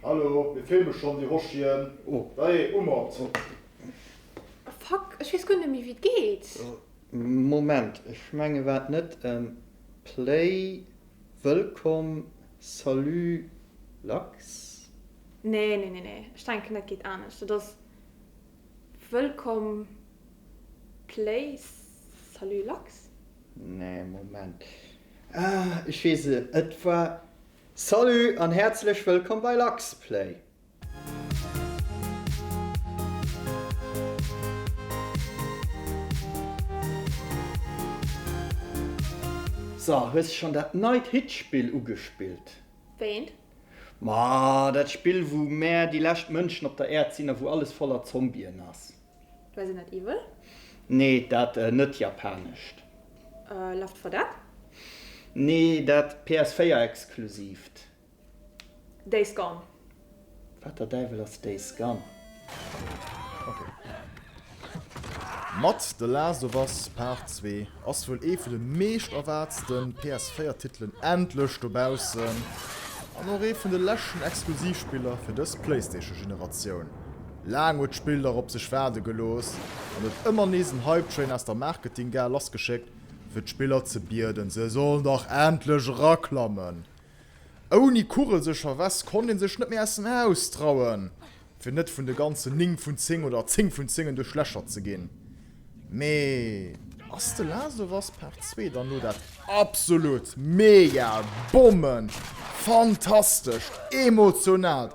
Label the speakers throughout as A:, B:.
A: Hallo, mir filme schonn déi Roschien. Dajee,
B: umort!
C: Fuck, ech weess guer net méi wéi et geet. Moment,
B: ech mengen war et net Play, Wëllkomm, Salut, Lachs? Nee, nee,
C: nee, nee, ech denken dat geet anescht. Dat ass Wëllkomm, Play, Salut, Lachs? Nee,
B: Moment, ah, ech weess et, et war. Salut an häerzlech wëllkomm bei LuxPlay! So, hues schon dat neit Hitspill ugespillt? Wéint?
C: Ma
B: dat Spill wou mär déi lescht Mënschen op der Äerd sinn a wou alles voller Zombien ass. Du weess en net Evil?
C: Nee, dat
B: net Japanescht. Left
C: 4 Dead? Nee,
B: dat PS4 Exklusiivt.
C: Days Gone? Wat der
B: Däiwel ass Days Gone?
A: Mat The Last of Us Part Zwee ass wuel ee vun de meescht erwaartste PS4 Titelen endlech dobaussen an och ee vun de leschten Exklusivspiller fir dës Playstation Generatioun. Laang huet d'Spill nach op sech waarde gelooss an huet ëmmer nees en Hype Train aus der Marketing-Gare lassgeschéckt, fir d'Spiller ze bieden, se sollen dach endlech eraklammen. Ouni kugelsécher West konnt een sech net méi aus dem Haus trauen, fir net vun de ganzen 9 vun 10 oder 10 vun 10 en duerchlächert ze ginn. Mee. Ass The Last of Us Part Zwee dann elo dat absolut mega bommen fantastescht emotionaalt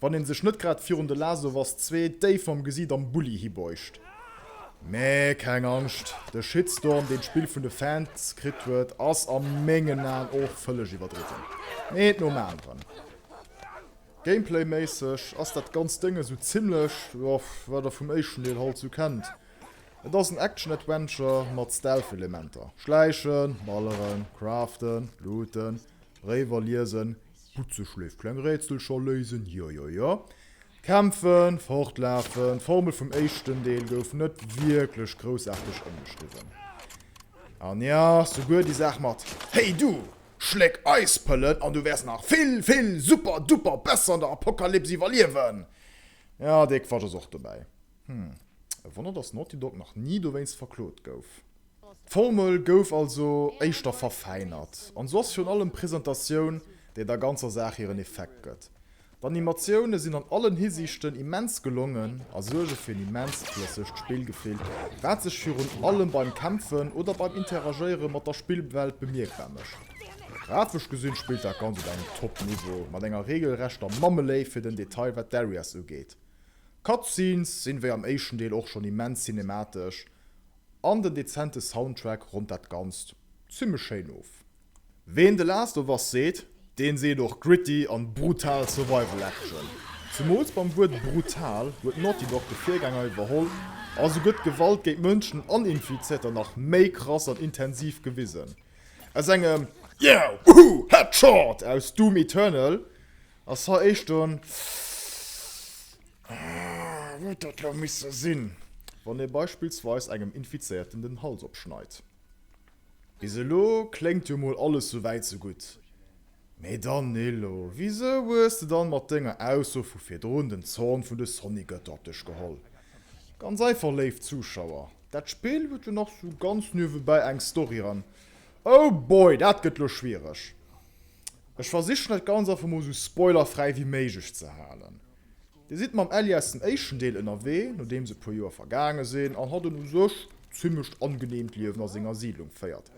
A: Wann een sech net grad virun de Last of Us Zwee déif mam Gesiit am Bulli hibeucht. Mee keng Angscht, de Shitstorm deen d'Spill vun de Fans kritt huet ass a mengen Aen och vëlleg iwwerdriwwen. Eent nom aneren. Gameplay méisseg ass dat ganzt Dëng esou zimmlech jo wat der vum éischten Deel halt esou kennt. Et ass en Action Adventure mat Stealth Elementer, Schläichen, Balleren, Craften, Looten, Bréiwer liesen, Butze schléift, kleng Rätsel scho léisen, jo jo jo. Kämpfen, fortlafen, d'Formel vum éischten Deel gouf net wierklech groussaarteg ëmgeschriwwen. An ja, souguer déi Saach mat Hey du! Schléck Eispëllen an du wäers nach vill, vill super, duper besser an der Apokalyps iwwerliewen! Ja, dee Quatsch ass och dobäi. Hm, e Wonner, dass Naughty Dog nach ni dowéinst verklot gouf. D'Formel gouf also éischter verfäinert an sou ass virun allem d'Presentatioun, déi der ganzer Saach hiren Effekt gëtt. D'Animatioune sinn an allen Hisiichten immens gelongen a suerge fir en immenst flëssegt Spillgefill, wat sech virun allem beim Kämpfen oder beim Interagéiere mat der Spillwelt bemierkbar mécht. Grafesch gesinn spillt dat Ganzt op engem Top-Niveau, mat enger reegelrechter Mammeléift fir den Detail wat d'Areas ugeet. D'Cutscenes sinn wéi am éischten Deel och schonn immens cinematesch, an den dezente Soundtrack ronnt dat Ganzt zimmlech schéin of. Ween The Last of Us seet, deen seet och gritty an brutal Survival Action. Zemools beim Wuert brutal huet Naughty Dog de Virgänger iwwerholl a sou gëtt Gewalt géint Mënschen an Infizierter nach méi krass an intensiv gewisen. Aus engem Yeah! Woohoo! Headshot! aus Doom Eternal Ass hei éischt en Huet dat lo misse sinn? Wann ee beispillsweis engem Infizéierten den Hals opschneit. Bis elo kléngt jo mol alles sou wäit sou gutt. Mee Danilo, wisou hues de dann mat denger Ausso vu virdrun den Zorn vun de Sonnygötter op dech geholl? Ganz einfach léif Zuschauer, dat Spill huet jo nach sou ganz niewebäi eng Story an. Oh boy, dat gëtt lo schwiereg. Ech versichen dat ganz einfach mol sou spoilerfräi wéi méiglech ze halen. Dir sidd mam Ellie aus dem éischten Deel ënnerwee, nodeems e puer Joer vergaange sinn, an hatt en u sech zimmlecht angeneemt Liewen a senger Siidlung féiert.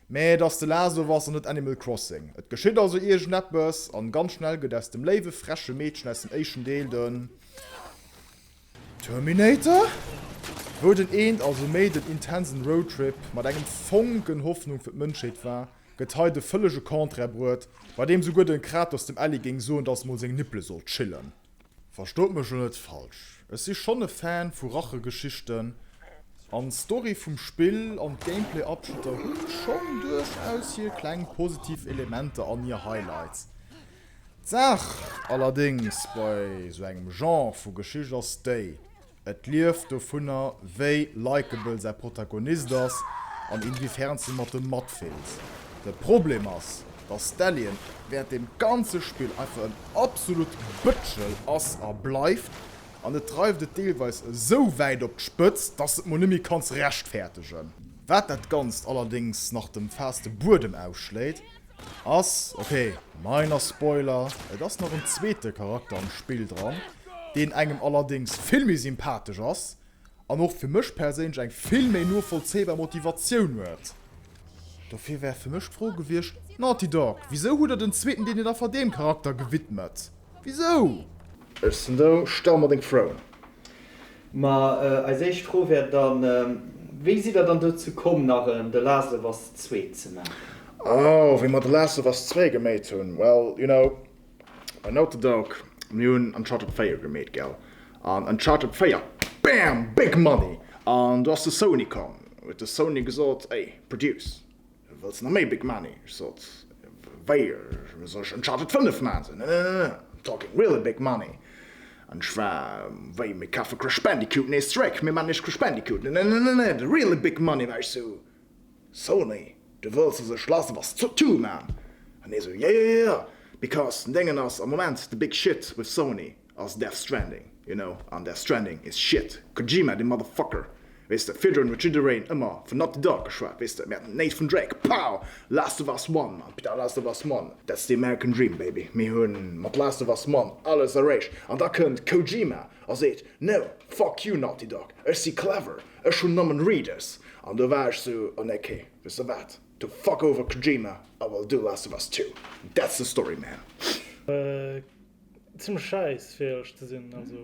A: Mä et ass The Last of Us an net Animal Crossing. Et geschitt also iergendeppes, an ganz schnell gëtt aus dem léiwe freche Meedchen aus dem éischten Deel den Terminator, wou den eent also méi den intensen Roadtrip mat engem Fonken Hoffnung fir d'Mënschheet war, gëtt hei de vëllege Contraire bruet, bei deem souguer de Kratos dem Ellie géing soen, dass mol seng Nippele sollt chillen. Verstoot mech lo net falsch, ech si schonn e Fan vu Rachegeschichten, an d'Story vum Spill an d'Gameplay-Abschnitter hu schonn duerchaus hir kleng positiv Elementer an hir Highlights. D'Saach allerdéngs bei sou engem Genre vu Geschicht ass déi, Et lieft dovunner, wéi likeable säi Protagonist ass an inwiefern s du mat em matfills. De Problem ass, dass Stallion während dem ganze Spill einfach en absolut Bëtschel ass a bleift, an dat dreift et deelweis esou wäit op d'Spëtz, dass s et mol net méi kanns rechtfäertegen. Wat dat Ganzt allerdéngs nach dem Fast de Buedem ausschléit, Ass ok, minor spoiler, et ass nach en zweete Charakter am Spill dran, deen engem allerdéngs vill méi sympathesch ass an och fir mech perséinlech eng vill méi novollzéibar Motivatioun huet. Dofir wär fir mech d'Fro gewiescht, Naughty Dog, wisou hutt der den zweeten Deel net einfach deem Charakter gewidmet? Wisou? Ech sinn
B: do, stell mer deng Froen. Ma eis éischt Fro wär dann, Wéi sidd der dann dozou komm, nach en The Last of Us Zwee ze maachen? Oh, wéi mer
D: The Last of Us Zwee geméit hunn? Well, you know, bei Naughty Dog, mir hunn Uncharted 4 gemeet, gell? An Uncharted 4, bam! Big Money! An do ass de Sony komm, huet de Sony gesot, Ey, produce! Wëlls na méi Big Money? Ech sot, Wéi, soll ech Uncharted 5 maachen? Sou, Ne, ne, ne, ne, I'm talking real big money. An ech war, Wéi, mir kafe Crash Bandicoot nees zeréck, mir maachen nees Crash Bandicoot? Ne, ne, ne, ne, ne, the real big money. War ech sou, Sony, du wëlls dass ech lass was to do man? An hie sou, Yeah, yeah, yeah, because den Déngen ass am Moment the big shit with Sony. ass Death Stranding, you know, an Death Stranding is shit, Kojima de Motherfucker, weess de, virdrun huet jiddereen ëmmer vun Naughty Dog geschwat, weess de, mir haten Nathan Drake, pow, Last of Us One, Mann, putain, Last of Us One, that's the American Dream, baby, mir hu mat Last of Us One alles erreecht, an da kënnt Kojima a seet, no, fuck you Naughty Dog, ech si clever, ech hunn nëmmen Readers, an do war ech sou, oh ne, kee, weess de wat, du fuck over Kojima, I will do Last of Us Two, that's the story, man. Zimmlech
E: schäiss fir ehrlech ze sinn. Also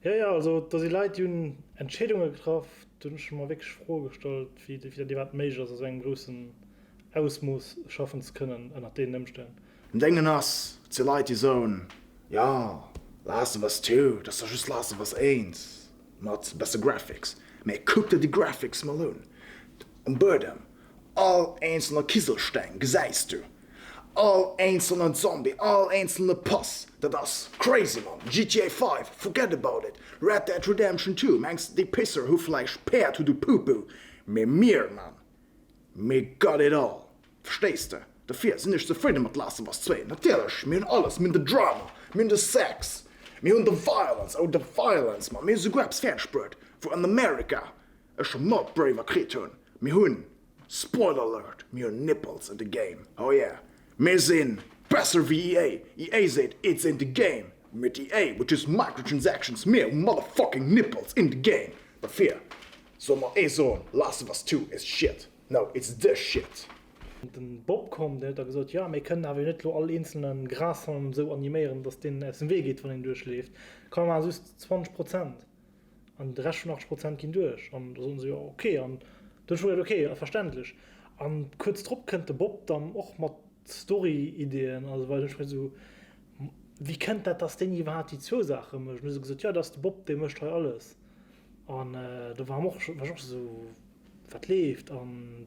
E: jo jo, also do si Leit déi hunn Entscheedunge getraff, do hunn ech mer wierklech Froe gestallt wéi dat iwwerhaapt méiglech ass a sou engem groussen Ausmooss schaffen ze kënnen ënnert deenen Emstänn. An dengen ass
D: et jo Leit déi soen, jo Last of Us Two, dat ass da just Last of Us Eins mat besse Graphics. Mee kuck der déi Graphics mol un, um Buedem All eenzelner Kiselsteng gesäis du, all eenzelnen Zombie, all eenzelne Pass, dat ass crazy Mann! GTA 5, forget about it! Red Dead Redemption 2, mengs déi Pisser hu vläicht Päerd, hu du Pupu, mee mir Mann, me got it all! Verstees de? Dofir sinn ech zefridde mat Last of Us 2, natierlech, mir hunn alles, mir hunn de Drama, mir hunn de Sex, mir hunn de Violence, oh de Violence Mann, mir hu souguer eppes fäerdeg bruet, wou an America Ech hun not braver kritt hun mir hun spoiler alert mir hun nipples in the game oh yeah mir si besser wéi EA EA seet it's in the game but EA would use microtransactions mir hu motherfucking nipples in the game dofir soll mer ee soen last of us 2 is shit no it's the shit. Den
E: Bob komm deen huet da gesot jo mir kënnen awer jo net lo all eenzelnen Grashallm sou animéieren dass deen aus dem Wee geet wann een duerchleeft, kann een maachen just 20 Prozent. An de Rescht vun 80 Prozent ginn duerch. An da soen se, Jo, ok. An du hues scho gesot, Ok, ass verständlech. An kuerz drop kënnt de Bob dann och mat Story-Ideeën. Also well ech mech esou, Wéi kënnt dat, dass deen iwwerhaapt déi zwou Saache mécht? An hu se gesot, Jo, dat ass de Bob, dee mécht hei alles. An do war och, war ech och esou, Wat leeft? An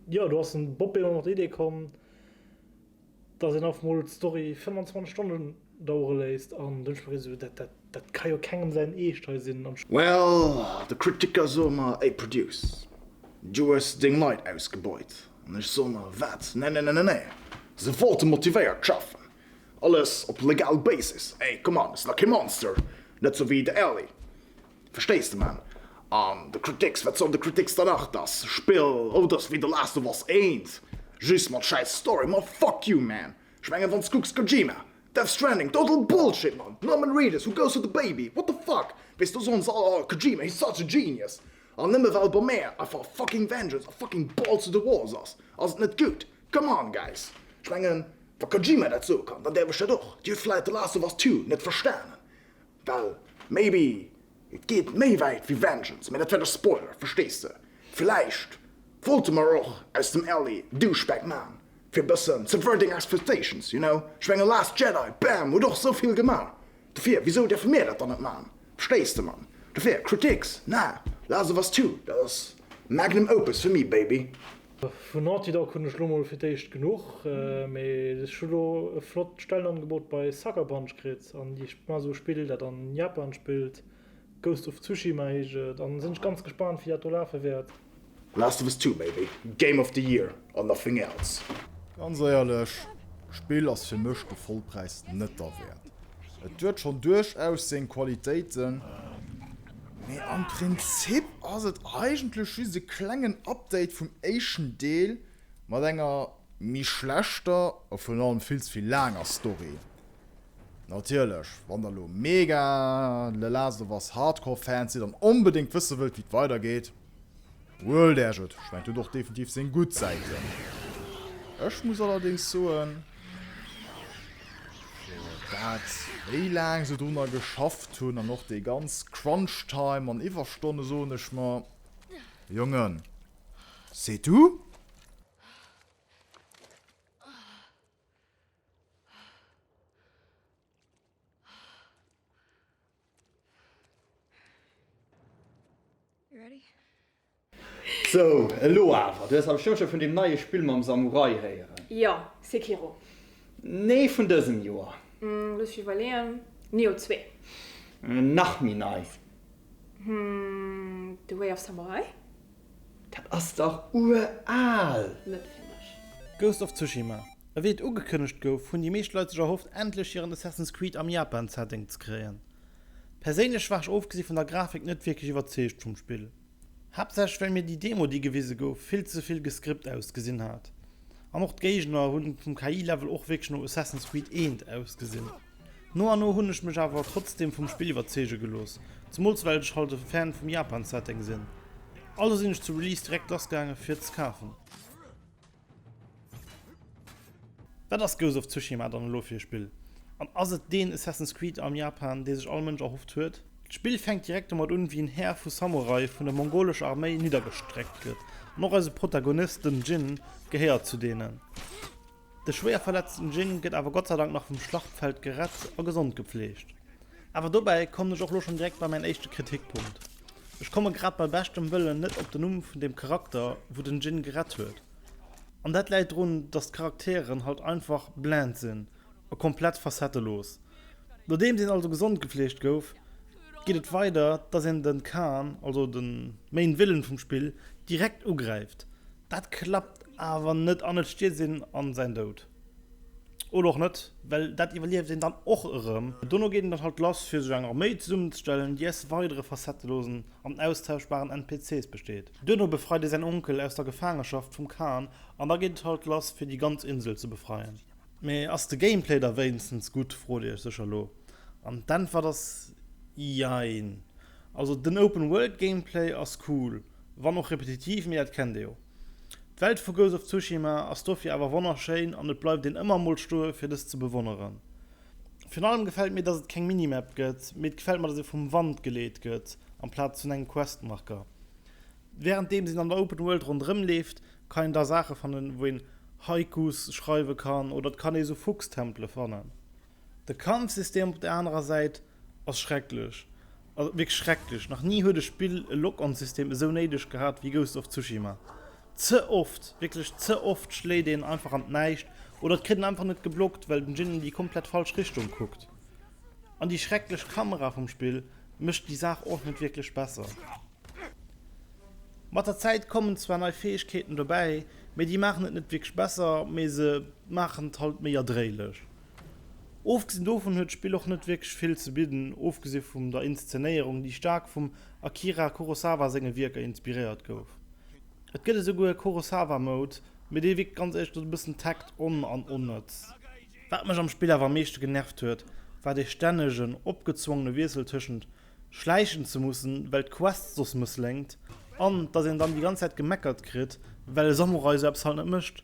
E: jo, do ass den Bob ebe mat der Idee komm. dass een einfach mol d'Story 25 Stonnen dauere léisst an dunn spréch ech esou, dat dat dat ka jo kengem säin Eescht hei sinn an. Well
D: de Kritiker soe mer, ey Produce, du hues deng Leit ausgebeut an ech soe mer, wat, nennennennennee, se wollte motivéiert schaffen, alles op legal Basis, ey come on, ech sinn da kee Monster, net sou wéi de Aly. Verstees de man? An de Critics, wat soll de Critics dann nach? Dass Spill ouders wéi The Last of Us 1 just mat schäiss Story, ma fuck you man! Ech mengen wanns kucks Kojima, Death Stranding, total Bullshit man! Norman Reedus, Who Goes With The Baby, what the fuck! Weess do soen se all, oh Kojima, he's such a genius! An nëmme well bei mär einfach fucking Vengeance a fucking Balls To The Walls ass, ass et net gutt? Come on guys! Ech mengen wa Kojima dat soe kann, dann däerf ech dat och. Dir hutt vläit The Last of Us 2 net verstanen, Well, maybe, et geet méi wäit wéi Vengeance, mä dat wär de Spoiler, verstees de? Villäicht wollte mer och aus dem Ellie e Douchebag maachen, fir e bëssen subverting expectations, you know? Ech menge Last Jedi, bam, huet och esou vill gemaach, dofir wisou däerfe mir dat dann net maachen? Verstees de, Mann? Dofir, Critiques, nah, last of us 2, dat ass Magnum Opus fir mi, baby. Vun Naughty
E: Dog hunn ech elo mol fir d'éischt genuch, mee ech hu elo e flott Stellenangebot bei Sucker Punch kritt an déi man esou spillt, dat an Japan spillt, Ghost of Tsushima heescht et, an sinn ech ganz gespaant wéi dat do lafe wäert. Last of Us 2
D: may be game of the year or nothing else. Ganz éierlech,
A: d'Spill ass fir mech de Vollpräis net derwäert. Et huet schonn duerchaus seng Qualitéiten. Mee am Prinzip ass et eigentlech just e klengen Update vum éischten Deel mat enger méi schlechter a virun allem vill ze vill laanger Story. Natierlech, wann der elo mega The Last of Us Hardcore Fans sidd an onbedéngt wësse wëllt wéi et weidergeet, Well der Jeu d'Schwäin huet och definitiv seng gutt Säiten. Ech muss allerdéngs soen, dat wéi laang se drunner geschafft hunn an och dee ganz Crunch-Time an Iwwerstonne soen ech mer, Jongen, c'est tout?
B: So, elo awer. Du hues am Sturm scho vun deem neie Spill mam Samurai héieren? Jo, Sekiro.
C: Nee,
B: vun dësem Joer. Looss mech iwwerleeën,
C: Nioh 2? Nach
B: méi nei. The
C: Way of Samurai? Dat
B: ass dach uraal! Net fir
C: mech. Ghost of Tsushima.
F: Ewéi et ugekënnegt gouf, hunn déi meescht Leit sech erhofft, endlech hiren Assassin's Creed am Japan-Setting ze kréien. Perséinlech war ech ofgesi vun der Grafik net wierklech iwwerzeegt vum Spill. Haaptsächlech well mir déi Demo, déi gewise gouf, vill ze vill gescript ausgesinn hat. An och d'Géigner hu vum KI-Level och wierklech no Assassin's Creed I ausgesinn. No an no hunn ech mech awer trotzdem vum Spill iwwerzeege gelooss, zemools well ech halt e Fan vum Japan-Setting sinn. Also sinn ech zu Release direkt lass gaange fir et ze kafen. Wat ass Ghost of Tsushima dann elo fir e Spill? An ass et deen Assassin's Creed am Japan, dee sech all Mënsch erhofft huet? D'Spill fänkt direkt domat un, wéi en Här vu Samurai vun der mongolescher Arméi niddergestreckt gëtt, an och eise Protagonist, den Jin, gehéiert zu deenen. De schwéier verletzten Jing gëtt awer gottseidank nach vum Schlachtfeld gerett a gesond gepfleegt. Awer dobäi kommen ech och lo schonn direkt bei mäin éischte Kritikpunkt. Ech komme grad bei beschtem Wëllen net op den Numm vun deem Charakter wou den Jin gerett huet. An dat läit drun, dass d'Charakteren halt einfach blend sinn a komplett facettelos. Nodeems een also gesond gepfleegt gouf, geet et weider dass een den Khan, also den Main Villen vum Spill, direkt ugräift. Dat klappt awer net an et stierzt een an säin Doud. Oder och net, well dat iwwerlieft een dann och erëm. Dono geet een dat halt lass fir sech eng Arméi zesummenzestellen, déi aus weidere facettelosen an austauschbaren NPCs besteet. Duerno befreit ee säin Onkel aus der Gefaangeschaft vum Khan an da geet et halt lass fir déi ganz Insel ze befreien. Mee ass de Gameplay da wéinstens gutt, frot dir iech sécher elo. An d'Äntwert ass jein. Also den Open World Gameplay ass cool. Wann och repetitiv, mee dat kennt ee jo. D'Welt vu Ghost of Tsushima ass dofir awer wonnerschéin an et bleift een ëmmer emol stoe fir dës ze bewonneren. Virun allem gefält mir, dass et keng Minimap gëtt, mee et gefält mer, dass ee vum Wand geleet gëtt amplaz vun engem Questmarker. Wärenddeems een an der Open World ronderëm leeft, kann een da Saache fannen, wou een Haikus schreiwe kann oder et kann ee sou Fuchstempele fannen. De Kampfsystem op der anerer Säit ass schrecklech, wierklech schrecklech. Nach ni huet e Spill e Lock-on-System esou néideg gehat wéi Ghost of Tsushima. Ze oft, wierklech ze oft schléit een einfach an d'Näischt oder et kritt een einfach net geblockt, well den Jin an déi komplett falsch Richtung kuckt. An déi schrecklech Kamera vum Spill mécht déi Saach och net wierklech besser. Mat der Zäit kommen zwar nei Fäegkeeten dobäi, mee déi maachen et net wierklech besser, mee se maachen et halt méi erdréilech. Ofgesinn dovun huet d'Spill och net wierklech vill ze bidden, ofgesi vum der Inszenéierung, déi staark vum Akira Kurosawa senge Wierker inspiréiert gouf. Et gëtt esouguer e Kurosawa Mode, mee dee wierkt ganz éischter e bëssen tackt on an onnëtz. Wat mech am Spill awer am meeschte genervt huet, war dee stännegen, opgezwongene Wiessel tëschent schläichen ze mussen, well d'Quest soss mëssléngt, an dass een dann déi ganz Zäit gemeckert kritt, well e Samurai esou eppes halt net mécht.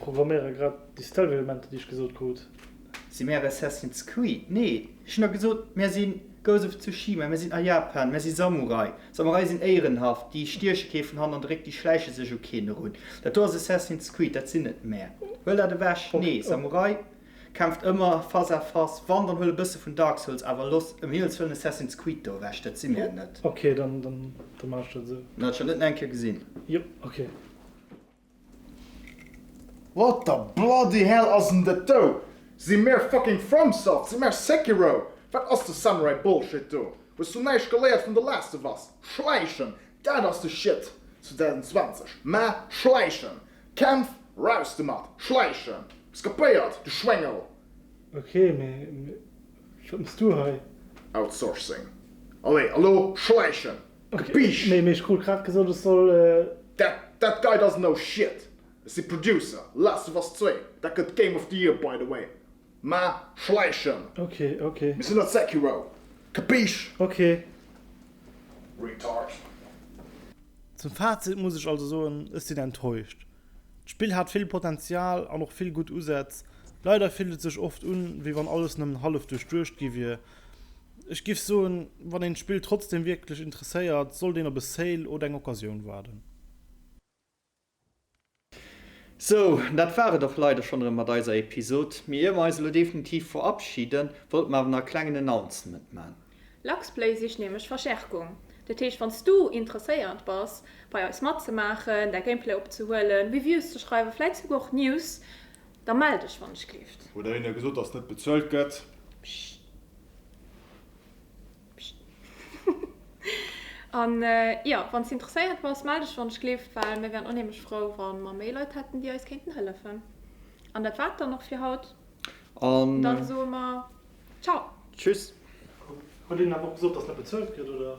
E: Programméiere grad déi Stealth-Elementer déi ech gesot krut. Si
B: mär Assassin's Creed? Nee, ech hunn der gesot mär si Ghost of Tsushima, mär sinn a Japan, mär si Samurai. Samurai sinn éierenhaft, déi stieche kee vun hannert eréck, déi schläiche sech u keen erun. Dat do ass Assassin's Creed, dat sinn net mär. Huel dat ewech. Nee, Samurai kämpft ëmmer face à face, wann dann huel e bësse vun Dark Souls, awer looss ëm Himmels wëllen Assassin's Creed do ewech, dat si mär net. Ok, dann maache
E: ech dat esou. Huet scho net nach eng Kéier
B: gesinn. Jop, ok.
D: What the bloody hell ass en dat do? Si mär fucking FromSoft? Si mär Sekiro? Wat ass de Samurai Bullshit do? Hues du näischt geléiert vun The Last of Us? Schläichen, dat ass de Shit 2020, mä schläichen! Kämpf, raus domat! Schläichen! Hues kapéiert, du Schwéngel! Ok,
E: mee wat mëss du hei? Outsourcing.
D: Allez, elo schläichen! Biisch! Mee ech krut grad
E: gesot ech soll. That that guy
D: doesn't know shit! Ech si Producer, Last of Us Zwee, dat gëtt Game of the Year by the way, mä schläichen! Ok ok.
E: Mir sinn net Sekiro!
D: Kapiisch! Ok. Retard.
F: Zum Fazit muss ech also soen, ech sinn enttäuscht. D'Spill hat vill Potenzial an och vill gutt Usätz. Leider fillt et sech oft un, wéi wann alles nëmmen hallef duerchduecht gi wier Ech giff soen, wann een d'Spill trotzdem wierklech interesséiert, sollt een op e Sale oder eng Occasioun waarden.
B: Sou, dat war et och leider schonn erëm mat eiser Episod, mee ier mer eis elo definitiv verabschiden, wollte mer awer nach e klengen Announcement man. Luxplay sicht
C: nämlech Verstärkung. Dat heescht, wann s du interesséiert bass, bei eis matzemaachen, däi Gameplay opzehuelen, Reviews ze schreiwen, vläit souguer och News, Da mell dech wann ech kleeft. Huet der hinne gesot dass net
A: bezuelt gëtt. Pscht. Pscht.
C: An jo, wann s de interesséiert bass, mell dech wann ech kleeft, well mir wären onheemlech frou wann mer méi Leit hätten déi eis kéinten hëllefen. An dat war et dann och fir haut. An dann soe mer
E: Ciao. Tschüss. Huet een
C: awer och gesot
E: dass net bezuelt gëtt oder?